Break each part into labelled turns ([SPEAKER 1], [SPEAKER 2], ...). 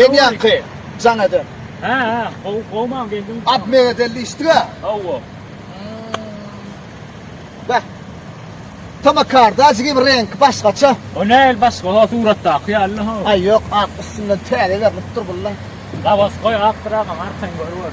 [SPEAKER 1] Geň ýaňky
[SPEAKER 2] jaň eden. Hä hä
[SPEAKER 1] gowy gowy maňa geldi. Ab megedelli işdiga.
[SPEAKER 2] Hawa. Bä. Tama karda jigim renk başgaça. O näl başga
[SPEAKER 1] ha suratdaky ýaly ha. Aý ýok ak üstünden
[SPEAKER 2] täze berlipdir bulla. Labas goý
[SPEAKER 1] ak bir agam arkaň görüber.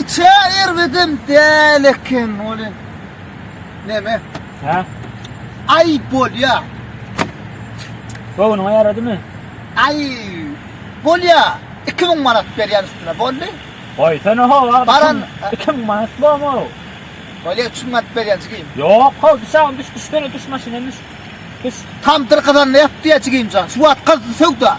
[SPEAKER 2] Içe erbedem däl eken ol em. Neme?
[SPEAKER 1] Hä? Ay
[SPEAKER 2] bolýa.
[SPEAKER 1] Gowunyňa ýaradymy? Ay
[SPEAKER 2] bolýa. 2000 manat berýän üstüne boldy. Goýsana ho,
[SPEAKER 1] Baran- 2000
[SPEAKER 2] manat
[SPEAKER 1] bormy? Bolýa 3
[SPEAKER 2] manat berýän jigim. Ýok, ho, düş agam,
[SPEAKER 1] düş, düş, gene düş maşyna düş. Düş. Tamdyr kazanda
[SPEAKER 2] ýap diýä jigimjan. Şu wagt gyzdy söwda.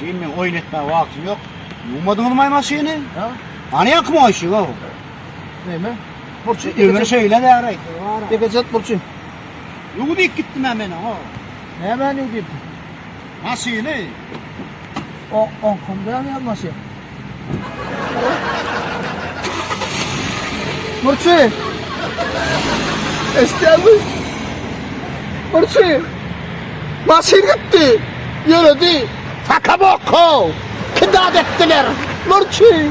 [SPEAKER 2] Sen
[SPEAKER 3] men oýun etmäge wagtym ýok. Ýuwmadyňyz maý maşyny? Ha? Hany
[SPEAKER 2] ýaňky moýşy
[SPEAKER 3] go. Näme?
[SPEAKER 2] Burçy. Öňe şeýle bäri.
[SPEAKER 3] Ýeke çat burçy.
[SPEAKER 2] Ýuw diýip
[SPEAKER 3] gitdim men meni go. Näme ýuw
[SPEAKER 2] diýip? Maşyny. O onkum däl ýa maşyn. Burçy! Eşitýän mi? Burçy! Maşyn gitdi! Ýöredi! Faka boko! Kidap etdiler! Burçy!